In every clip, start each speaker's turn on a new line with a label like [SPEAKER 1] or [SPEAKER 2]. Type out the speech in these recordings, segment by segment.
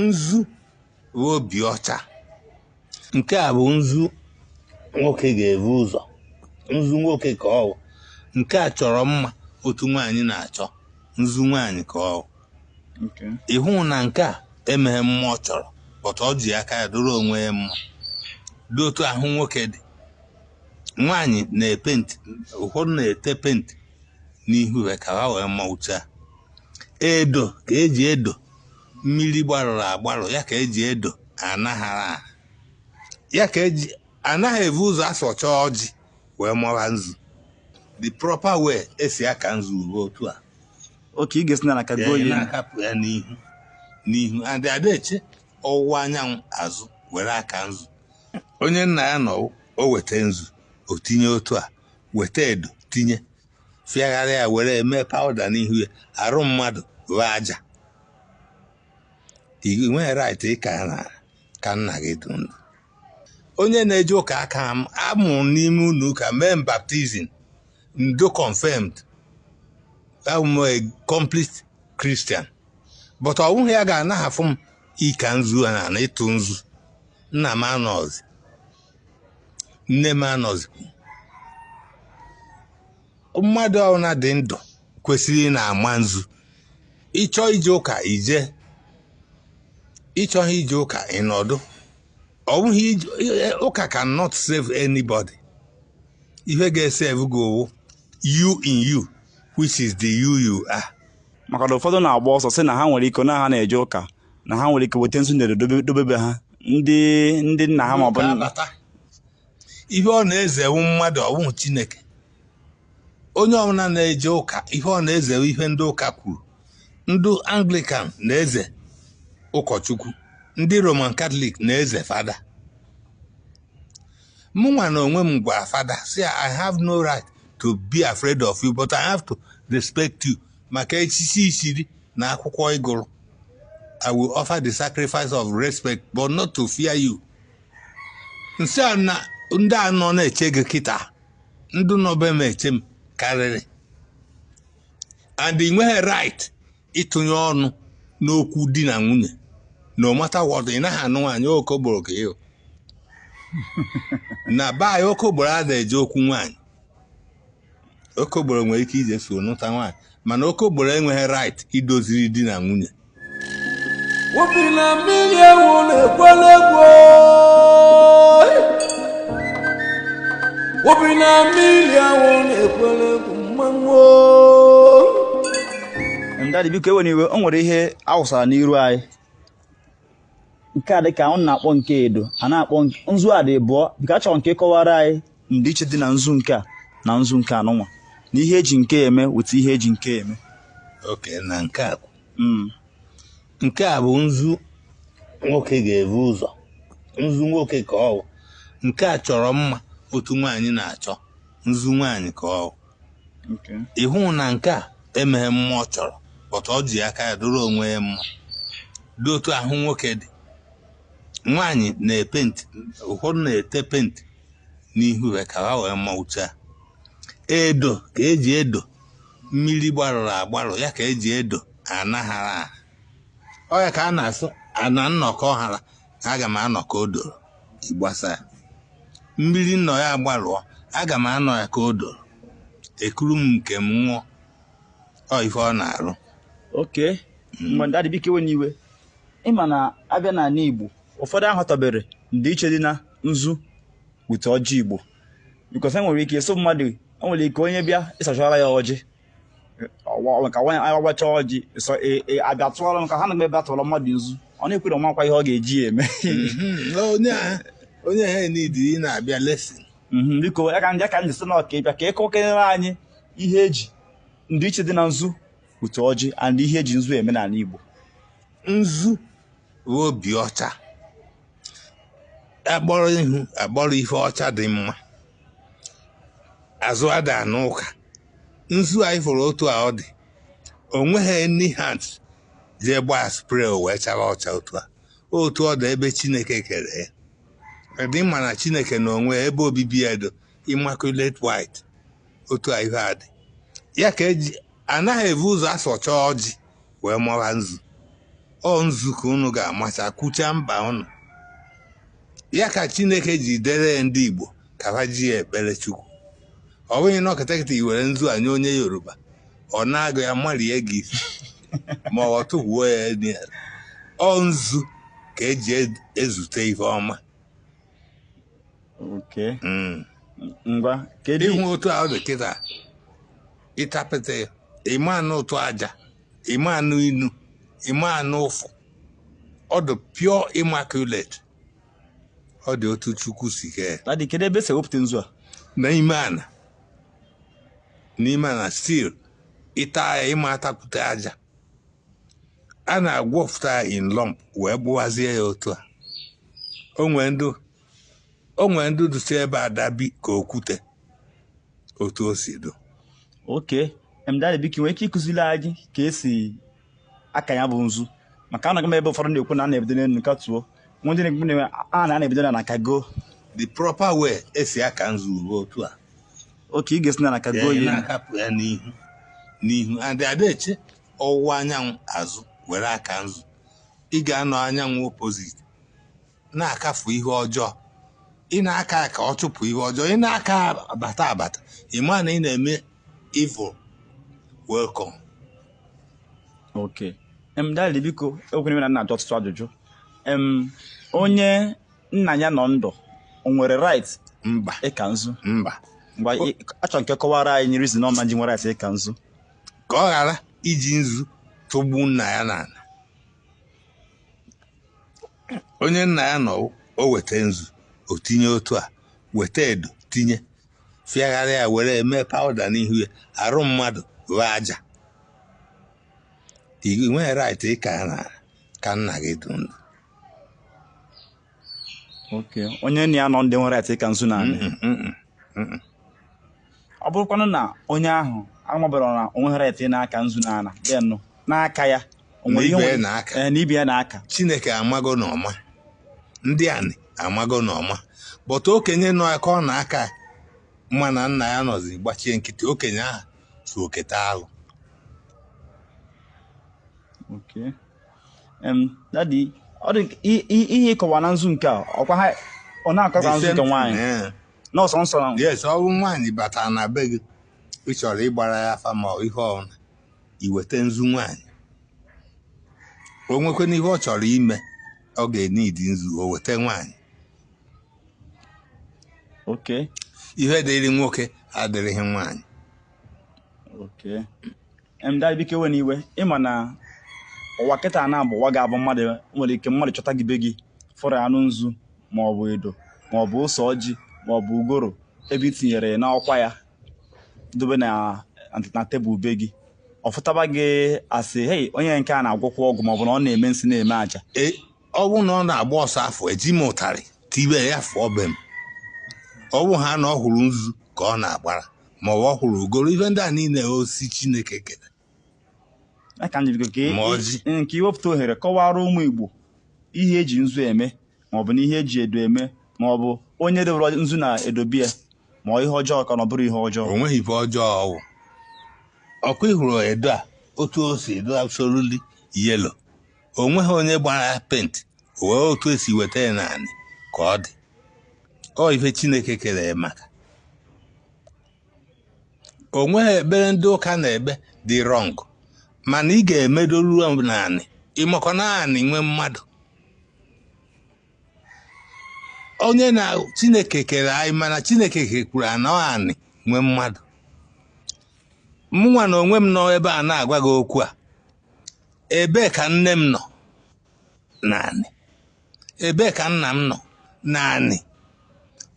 [SPEAKER 1] nzu bụ obi ọcha nke a bụ nzu nwoke ga-ebu ụzọ nzu nwoke ka ọ bụ nke a chọrọ mma otu nwaanyị na-achọ nzu nwaanyị ka ọ bụ ị hụ na nke a enweghị mma ọ chọrọ but ọ ji aka ya dịrị onwe ya mma dị otu ahụ nwoke dị nwaanyị na-epenti ụfọdụ na-ete penti n'ihu ha ka ha wee mma ụcha edo ka eji edo mmiri gbarụrụ agbarụ ya ka eji edo anaghara ya ka eji anaghị evu ụzọ asọcha ọjị wee mara nzu the proper way esi aka nzu bụ otu a okay ị ga-esi n'ala kagoo ya na-akapụ ya n'ihu n'ihu and adị eche ọwụwa anyanwụ azụ were aka nzu onye nna ya nọ o weta nzu o tinye otu a weta edo tinye fịagharịa ya were eme powder n'ihu ya arụ mmadụ ghọọ aja ị nweghị right ịka na ka nna gị dị ndụ onye na-eje ụka aka m amụrụ m n'ime ụlọ ụka mee m baptism and confirmed abụ m a complete Christian but ọ bụghị ya ga-anahafụ m ịka nzu na na ịtụ nzu nna m anọzi nne m anọzikwu mmadụ ọbụla dị ndụ kwesịrị ị na-ama nzu ị chọọ ije ụka i je ị chọghị ije ụka ị nọdụ ọ bụghị ụka cannot save anybody ihe ga-esave gị ọ wụ you in you which is the you you are maka na ụfọdụ na-agba ọsọ sị na ha nwere ike na ha na-eje ụka na ha nwere ike weta nzu ndere dobe be ha ndị ndị nna ha maọbụ ihe ọ na-eze wụ mmadụ ọ wụhụ chineke onye ọbụla na-eje ụka ihe ọ na-eze wụ ihe ndị ụka kwuru ndị anglikan na-eze ụkọchukwu ndị roman katọlik na-eze fada mụnwa n'onwe m gwara fada sị I have no right to be afraid of you but i have to respect you maka echichi i chiri na akwụkwọ ị gụrụ I will offer the sacrifice of respect but not to fear you m sị ya na ndị a nọ na-eche gị kịta ndị nọ be m eche m karịrị and ị nweghị right ịtụnye ọnụ n'okwu di na nwunye no matter what ị naghị anụ nwaanyị okokporo ka ị wụ na be anyị okokporo ada eje okwu nwaanyị okokporo nwere ike ije so nụta nwaanyị mana okokporo enweghị right idoziri di na nwunye Obi na mmiri ewu na-ekwele egwu Obi na mmiri ewu na-ekwele egwu mana daddy biko ewena iwe o nwere ihe awụsara n'iru anyị nke a dịka ọ na-akpọ nke edo a na-akpọ nzu a dị abụọ biko achọrọ m ka ị kọwara anyị ndịiche dị na nzu nke a na nzu nke anụnwa na ihe eji nke a eme with ihe eji nke a eme okay na nke a mm. nke a bụ nzu nwoke ga-ebu ụzọ nzu nwoke ka ọ bụ nke a chọrọ mma otu nwaanyị na-achọ nzu nwaanyị ka ọ bụ ị hụrụ na nke a enweghị mma ọ chọrọ but o ji aka ya dịrị onwe ya mma dị otu ahụ nwoke dị nwaanyị na-epenti ụfọdụ na-ete penti n'ihu ya ka ha wee maa ụcha edo ka eji edo mmiri gbarụrụ agbarụ ya ka eji edo ana ghara agha ọ ya ka a na-asị ana m nọ ka ọ ghara aga m anọ ka o doro ịgbasa ya mmiri m nọ ya gbarụọ aga m anọ ya ka o doro ekuru m nke m ṅụọ ọ ihe ọ na-arụ okay mana daddy biko ewena iwe Ị ma na abịa n'ala Igbo ụfọdụ aghọtaberọ ndịiche dị na nzu with ọjị Igbo because e nwere ike ịsị mmadụ nwere ike onye bịa ịsachara ya ọjị ka nwaanyị anya gbacha ọjị e, e, abịa tụọrọ m ka ha na m ebe atụọrọ mmadụ nzu ọ na-ekwere ọ makwa ihe ọ ga-eji ya eme mhm. onye ha nidi ị na-abịa lesin mhm, biko ya ka ndị ka ndị si na Ọka bịa ka ị kọkenyere anyị ihe eji ndịiche dị na nzu with ọjị and ihe eji nzu eme n'ala Igbo. Nzu bụ obi ọcha. A kpọrọ ihu a kpọrọ ihe ọcha dị mma. Azụ ada n'ụka. Nzu anyị fụrụ otu a ọ dị. O nweghị any hand jee gbaa spray o wee chara ọcha otu a. Otu ọ dị ebe Chineke kere ya dị. Ị ma na Chineke na onwe ebe obibi ya dị immaculate white otu a ihe a dị ya ka eji anaghị ebu ụzọ asacha ọjị wee maa nzu ọ nzu ka unu ga-amacha kwuchaa mkpa unu ya ka chineke ji dere ndị igbo ka ha ji ya ekpere chukwu ọ bụghị na ọkatakịta i were nzu a nye onye yoruba ọ na-agụ ya marie gị ma ọ tụgbuo ya elu ya ọ nzu ka eji ezute ihe ọma Okay. Mm. ngwa kedu ị hụ otu a ọ dị kịta ị tapịta ya ị ma anụ ụtọ aja ị ma anụ inu ị ma anụ ụfụ ọ dị pure immaculate ọ dị otu chukwu si kee ya. Daddy, kedu ebe e si ewepụta nzu a n'ime ana n'ime ana still ị ta ya ị ma atapụta aja a na-egwupụta ya in lump wee gbuwazie ya otu a o nwee ndị o nwere ndị dụsi ebe adabi ka okwute otu o si dị okay daddy biko i nwere ike ịkụziri anyị ka e si aka ya bụ nzu maka anụgo m ebe ụfọdụ na-ekwu na a na-ebido n'elu akatuo nwee ndị na-ekwu na a na-ebido n'ana kago the proper way e si aka nzu bụ otu a okay ị ga-esi n'ana kago ya na-akapụ ya n'ihu n'ihu and adị eche ọwụwa anyanwụ azụ were aka nzu ị ga-anọ anyanwụ opposite na-akafu ihe ọjọọ ị na-aka ka ọ chụpụ ihe ọjọọ ị na-aka abata abata ị ma na ị na-eme evil welcome okay em daddy biko ewekwana iwe na m na-ajụ ọtụtụ ajụjụ em onye nna ya nọ ndụ o nwere right mba ịka nzu mba eh achọ m ka ị kọwara anyị reason ọ ma ji nwere right ịka nzu ka ọ ghara iji nzu tụgbu nna ya n'ana onye nna ya nọ o weta nzu o tinye otu a weta edo tinye fịagharịa ya were mee powder n'ihu ya arụ mmadụ wụ aja i nweghị right ịka ana ka nna gị dụ ndụ okay onye nna ya nọ ndụ enwerọ right ịka nzu n'anị ọ bụrụkwanụ na onye ahụ amaburọ na o nweghị right ịka nzu n'ana bịa na-aka ya o nwere ihe Na be ya nwere- n'aka. Eh, na be ya na-aka chineke amago na ọ ma ndị anị amago na ọ ma but okenye nọ ka ọ na-aka ma na nna ya nọzi gbachie nkịtị okenye ahụ so eketa alụ okay daddy ọ dị ihe ị kọwa na nzu nke a ọkwa ha ọ na-akọ ka nzu nke nwaanyị n'ọsọ nsọ na yes ọ bụ nwaanyị batara na be gị ị chọrọ ịgbara ya afa ma ihe ọbụla i weta nzu nwaanyị o nwekwana ihe ọ chọrọ ime ọ ga-eneed nzu o weta nwaanyị okay ihe dịrị nwoke adịrịghị nwaanyị Okay. Em dad biko ewena iwe ị ma na ụwa kịta na abụ ụwa ga-abụ mmadụ nwere ike mmadụ chọta gị be gị fụrụ anụ nzu ma ọ bụ edo ma ọ bụ ose ọjị ma ọ bụ ugoro ebe i tinyere ya n'ọkwa ya dobe na na tebụl be gị ọ fụtaba ga-asị hei onye nke a na-agwọkwa ọgwụ ma ọ bụ na ọ na-eme nsị na-eme aja E, ọ bụrụ na ọ na-agba ọsọ afụ eji m ụtarị tibe ya fụọ be m ọ bụhaa na ọ hụrụ nzu ka ọ na-agbara ma ọ wụ ọ hụrụ ugoro ife ndị a niile osi chineke kere aka njirigo ka nke iwepụta ohere kọwara ụmụ igbo ihe eji nzu eme maọbụ na ihe eji edo eme maọbụ onye dewere nzu na edo be ya ma ihe ọjọọ ka na ọ bụrọ ihe ọjọọ o nweghị ife ọjọọ ọ wụ ọkwa ị hụrụ edo a otu o si dị absolutely yellow o nweghị onye gbara ya paint ọ wụ otu e si weta ya n'anị ka ọ dị ọ ife chineke kere ya maka o nweghị ekpere ndị ụka na-ekpe dị wrong mana ị ga-emedoru na anị ị makwa na anị nwe mmadụ onye na chineke kere anyị mana chineke kekwuru anị anị nwe mmadụ mụnwa na onwe m nọ ebe a na-agwa gị okwu a ebee ka nne m nọ n'anị ebee ka nna m nọ n'anị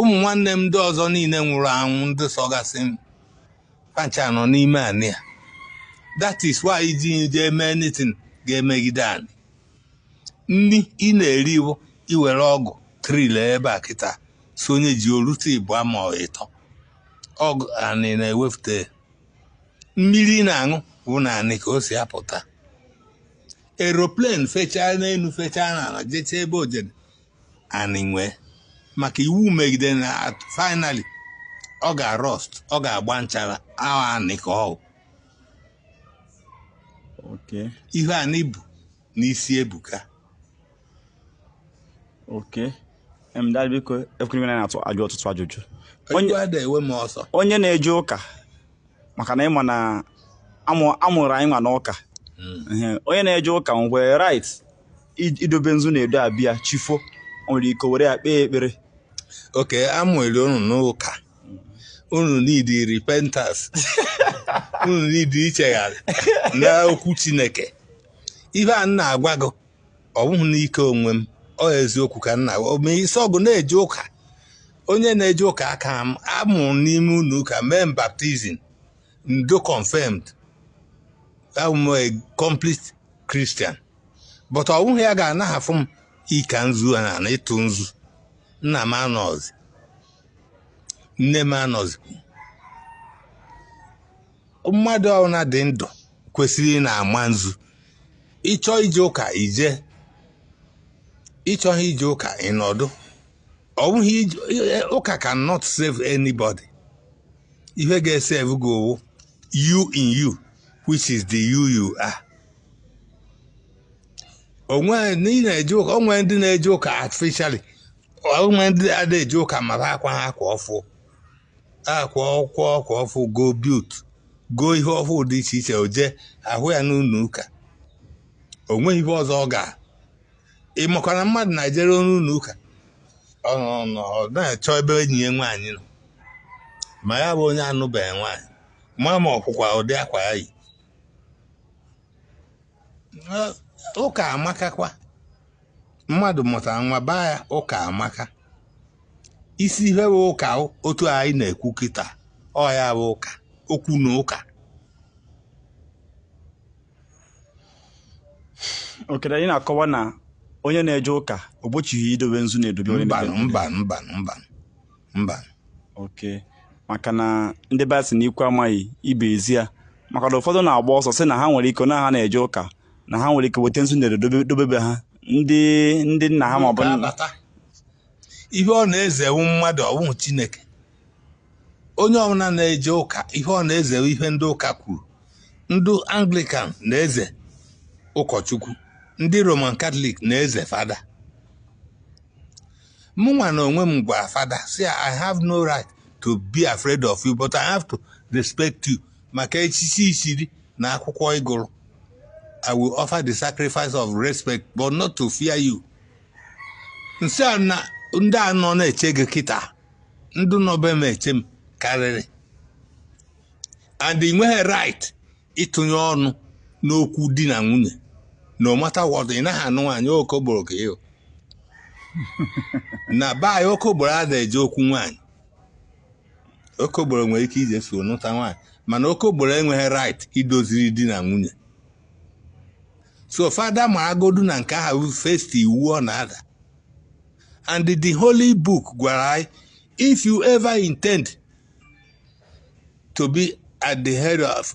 [SPEAKER 1] ụmụ nwanne m ndị ọzọ niile nwụrụ anwụ ndị sọgasị m fa ncha nọ n'ime anị a that is why iji jee mee anything ga-emegide anị nri ị na-eri bụ i were ọgụ till ebe a kịta sonye ji o rute ihe bụ ọnwa ịtọ ọ wụ anị na-ewepụta mmiri ị na-aṅụ bụ n'anị ka o si apụta aeroplane fechaa n'elu fechaa n'ala jechaa ebe o jede anị nwe ya maka iwu megide na finally ọ ga-arust ọ ga-agba nchara ahụ anị ka ọ bụ ihe anị bụ n'isi ebuka okay em dad biko ekwere m na m na-ajụ ọtụtụ ajụjụ onye ada enwe m ọsọ onye na-eje ụka maka na ị ma na a mụrụ anyịnwa n'ụka hmm. onye na-eje ụka nwere right idobe nzu na edo be ya chi fo o nwere ike were ya kpee ekpere okay a mụrụ unu n'ụka unu needi repentance unu needi ichegharị na okwu Chineke ihe a m na-agwa gị ọ bụghị n'ike onwe m ọ eziokwu ka m na-agwa gị isi ọgụ na-eje ụka onye na-eje ụka ka m a mụrụ m n'ime ụnọ ụka mee baptism and confirmed abụ m a complete Christian but ọ bụghị ya ga-anahafụ m ika nzu na ịtụ nzu nna m anọzi nne m anọzikwu mmadụ ọbụla dị ndụ kwesịrị ịna-ama nzu ị chọọ ije ụka i jee ị chọghị ije ụka ị nọdụ ọ bụghị ụka cannot save anybody ihe ga-esave gị wụ you in you which is the you you are o nwere ndị na-eje ụka o nwere ndị na-eje ụka artificially o nwere ndị ada eji ụka mara akwa ha akwa ọfụ akwa ọkwa ọkwa ọfụ go biut go ihe ọfụ dị iche iche o jee ahụ ya n'ụlọ ụka o nweghị ihe ọzọ ọ ga ị makwara mmadụ na-ejere onye ụlọ ụka ọ nọ nọ ọ na-achọ ebe enyi ya nwaanyị nọ ma ya bụ onye anụbeghị nwaanyị ma ma ọkwụkwa ụdị akwa ya yi ụka amakakwa mmadụ mụta nwa baa ya ụka amaka isi ihe wụ ụka otu anyị na-ekwu kịta ọ ya wụ ụka okwu na ụka okere anyị na-akọwa na onye na-eje ụka o gbochighị idobe nzu na-edobe onye mba na-edobe mba mba mba mba oke maka na ndị be anyị sị na ikwu amaghị ibe ezi ya maka na ụfọdụ na-agba ọsọ sị na ha nwere ike na ha na-eje ụka na ha nwere ike weta nzu ndere dobebe ha ndị ndị nna ha maọbụ ihe ọ na-eze wụ mmadụ ọ wụhụ chineke onye ọbụla na-eje ụka ihe ọ na-eze wụ ihe ndị ụka kwuru ndị anglikan na-eze ụkọchukwu ndị roman katọlik na-eze fada mụnwa na onwe m gwara fada sị i have no right to be afraid of you but i have to respect you maka echichi i chiri na akwụkwọ ị gụrụ I will offer the sacrifice of respect but not to fear you m sị ya na ndị a nọ na-eche gị kịta ndị nọ be m eche m karịrị and ị nweghị right ịtụnye ọnụ n'okwu di na nwunye no matter what ị naghị anụ nwaanyị okoboro ka ị wụ na be anyị okoboro ada eje okwu nwaanyị okogboro nwere ike ije so nụta nwaanyị mana okogboro enweghị right idoziri di na nwunye so fada maragodu na nke ahụ first iwu ọ na-ada and the holy book gwara anyị if you ever intend to be at the head of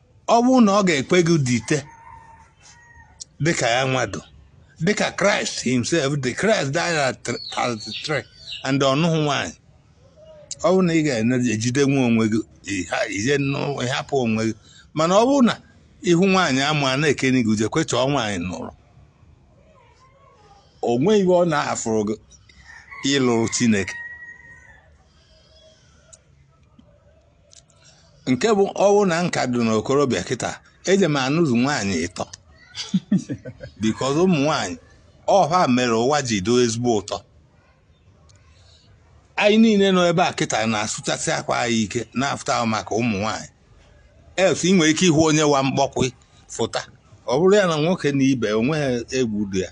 [SPEAKER 1] ọ bụrụ na ọ ga-ekwe gị dịte dịka ya nwa dụ dịka Christ himself the Christ died at 33 and ọ nụhụ nwanyị ọ bụrụ na ị ga-ejidenwu onwe gị ije ịhapụ onwe gị mana ọ bụrụ na ị hụ nwaanyị amụ a na-ekeni gị i jekwe chọọ nwaanyị nụrụ o nweghị ibe ọ nafụrụ gị ịlụrụ chineke nke bụ ọ bụ na m ka dị n'okorobịa kịta eje m anụzụ nwaanyị ịtọ because ụmụ nwaanyị ọ ha mere ụwa ji dụ ezigbo ụtọ anyị niile nọ ebe a kịta na-asụchasị akwa anyị ike na-afụta ọ bụ maka ụmụ nwaanyị else ị nwere ike ịhụ onye wa mkpọkwe fụta ọ bụrụ ya na nwoke na ibe o nweghị egwu dị ya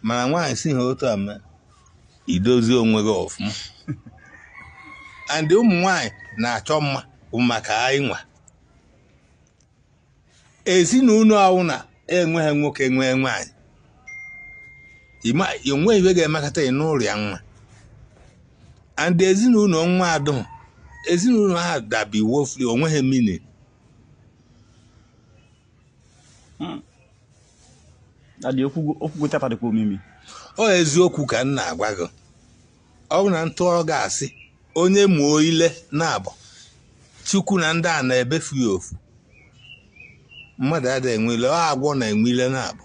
[SPEAKER 1] mana nwaanyị si ha otu a mee idozi onwe gị ọfụma and ụmụ nwanyị na-achọ mma bụ maka anyị nwa ezinụlọ ọ bụna enweghị nwoke nwee nwaanyị o nweghị ibe ga-emekọta ị n'ụlọ ya nwa and ezinụlọ nwa adụ ezinụlọ ha dabi wofri o nweghị meaning hmm. adị okwu tata dịkwa omimi ọ eziokwu ka m na-agwa gị ọ bụ na m tụọ gị asị onye mụọ ile naabọ chukwu na ndị a na-ebefụ ya ofu mmadụ adịghị enwe ile ọ agwọ na-enwe ile naabọ